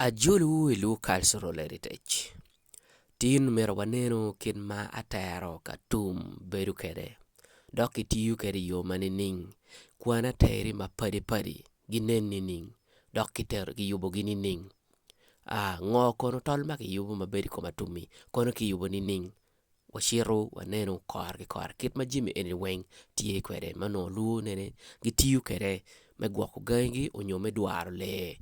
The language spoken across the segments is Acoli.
Ajolowu i Lukac Rulelitec. Tin omyero wanenu kit ma atero ka tum bedo kwede, dok kitiyo kwede i yo ma nining? Kwan ateri mapadi padi ginen nining? Dok kitero kiyubogi nining? Aa ngo kono tol ma kiyubo ma bedo i kom atum-mi? Kono kiyubo nining? wacito waneno kore ki kore kit ma jami eni weng tye kwede ma onongo lwonene gitiyo kwede me gwoko gangi gi nyo me dwaro lee.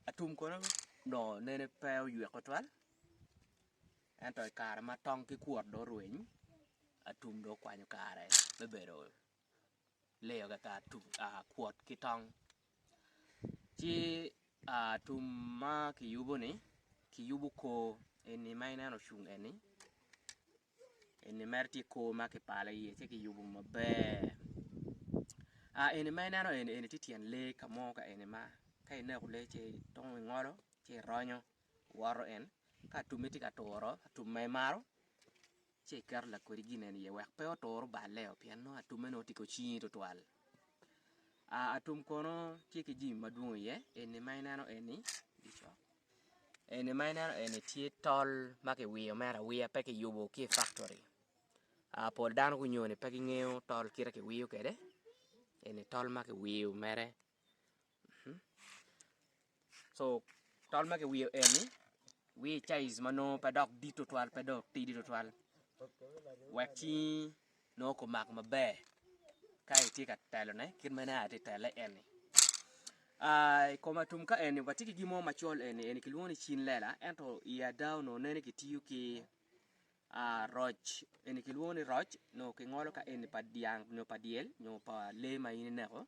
Atum kono onongo nene pe oywek tutwal ento i kare ma tong ki kwot dong orweny atum dong okwanyo kare me bedo leyo kaka kwot ki tong ci atum ma kiyubo-ni kiyubo kor eni ma ineno ocung eni Eni mere tye kor ma kipalo iye ci kiyubo maber eni ma ineno eni eni tye tyen lee ka mo ka eni ma ka ineko lee ci itongo ingolo ci ironyo iwoto en ka atume tye ka turo atum ma imaro ci iketo lakodi gin eni iye wek pe otur balle-o pien nongo atume nongo tye ki ocingi tutwal. Aa, atum kono tye ki jami madwong iye, eni ma ineno eni, eni ma ineno eni tye tol ma kiwiyo mere awiya pe kiyubo ki i faktori, aa pol dano gunyo-ni pe gingeyo tol kite kiwiyo kwede, eni tol ma kiwiyo mere. so tol ma kiwiyo eni wiye caiz ma nongo pe dok dit tutwal pe dok tidi tutwal wek cingi nongo kumak maber ka itye ka telone kit ma nen atye tele eni uh, i kom atum ka eni watye ki gin mo macol eni eni kilwongo ni cin lela ento i ada onongo nene kitiyo ki uh, roc eni kilwongo ni roc nongo kingolo ka eni pa dyang nyo pa dyel nyo pa lee ma in ineko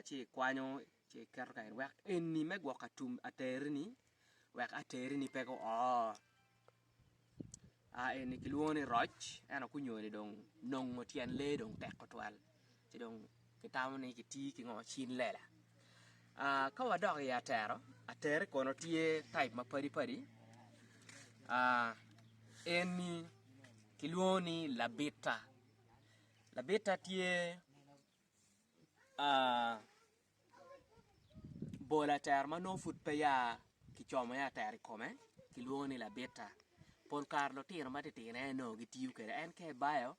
ci ikwanyo ci iketo kany wek eni me gwoko atum aterini wek aterini pe guo eni kilwongo ni roc ento kunyoni dong nongo tyen lee dong tek tutwal ci dong kitamo ni kiti ki ngo cin lela ka wadok i atero, atero kono tye taip mapadi padi eni kilwongo ni labita. Labitta tye bolo atera ma nongo pud pe ya kicomo iye atera i kome kilwongo ni labitta pol kare lutino matitino en aye nongo gitiyo kwede en ka ibayo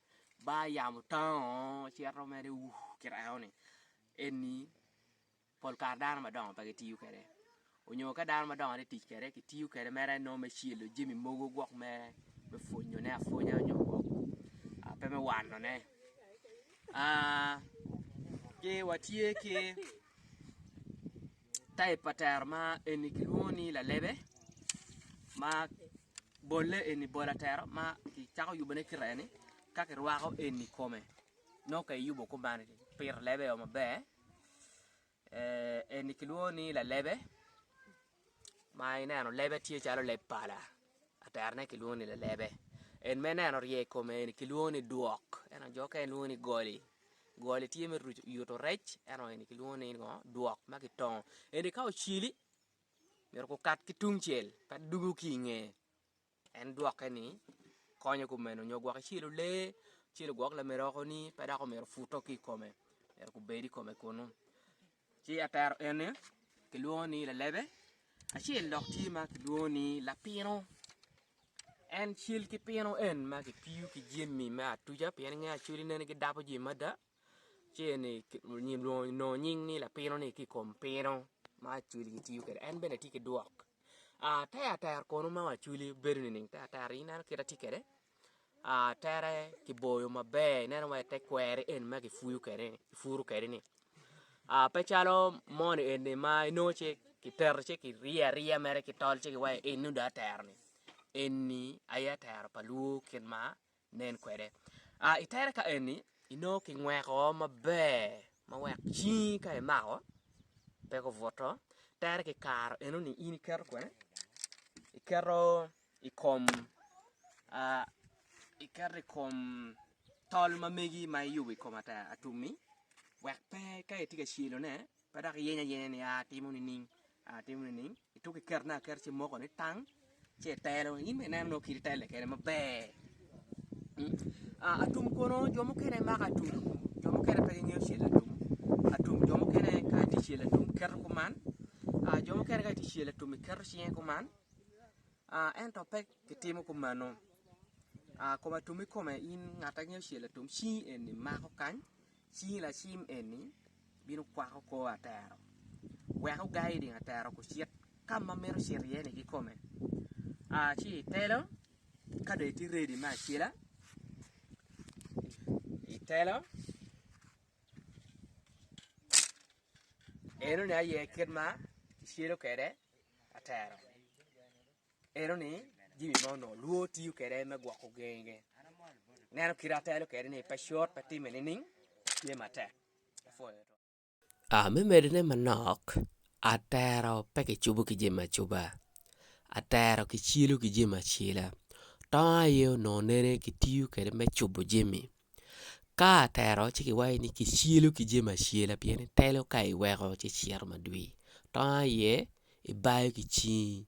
bar yamo tango cito mere kit enoni eni Pol kare dano madongo pe gitiyo kwede, onyo ka dano madongo tye ka tic kwede, kitiyo kwede mere nongo me celo jami mogo gwok me pwonyone apwonya onyo gwok pe me wanone. Ki watye ki taip pa tero ma eni kilwongo ni lalebe ma bolle eni bol atero ma kicako yubone kite eni ka kirwako eni i kome nongo ka iyubo kuman pire lebe o maber. Eni kilwongo ni lalebe ma ineno lebe tye calo leb pala terone kilwongo ni lalebe en ma ineno orye i kome eni kilwongo ni dwok ento jo mukene lwongo ni goli, goli tye me yuto rec ento eni kilwongo ni dwok ma kitongo eni ka ocili myero gukat ki tungcel pe dwogo ki i nge. En dwoke ni, Konyo kumeno, nyo gwok icilo lee, icilo gwok lameri oko-ni, pe dok omyero puto ki i kome, myero gubed i kome kunnu. Ci atero eni kilwongo ni lalebe, acel dok tye ma kilwongo ni lapino. En cal ki pino en ma kipiyo ki jami me atuca pien inge acoli nene gidabo jami mada. Ceng-ni onongo nying ni lapino-ni ki i kom pino ma Acholi gitiyo kwede en bene tye ki dwok. Te atera kono ma Acholi bedo nining? Te atera ineno kit ma atye kwede, atere kiboyo maber ineno wa te kweri eni ma kipuyo kwede-ni kipuro kwede-ni pe calo moni eni ma inongo ci kiteto ci kiriyo ariya mere ki tol ci kiwaci eni dong atera-ni eni aye atera pa lwor kit ma Nen kwede. A I tere ka eni, inongo kingweko maber ma wek cingi ka imako pe kubuto. Tere ki karo enoni in iketo kwene, iketo i kom a iketo i kom tol ma megi ma iyubo i kom atum-mi wek pe ka itye ka celo ne pe dok iyenyo ayenya ni aa timo nining. Atimo nining? Ituko kiketone aketa ci imoko ni tang ci itelo. In bene ineno nongo kit itelle kede maber. Ah, atum kono jo mukene mako atum, jo mukene pe gingeyo cel atum. Atum jo mukene ka itye cel atum keto kuman. Ah, jo mukene ka itye cel atum iketo cinge kuman. Ah, ento pe kitimo kumano. Ah, kom atum ikome in ngat angeyo cel atum cingi eni mako kany Cing lacim eni bino kwako kor atero, wek ogai i ding atero kucit ka ma mito cito iye-ni kikome. A Ci itelo, ka dong itye redi me acela, itelo, enoni aye kit ma kicelo kwede atero. Eno ni jimi ma onongo lwor tiyo kede me gwoko genge. Neno kite atelo kede ni pe cut pe time nining tye matek. A Me medone manok, atero pe kicubo ki jemo acuba. Atero kicilo ki jemo acila. Tongo aye onongo nene kitiyo kede me cubo jemi. Ka atero ci kiwaco ni kicilo ki jemo acila pien itelo ka iweko ci cito madwir. Tongo aye ibayo ki cingi.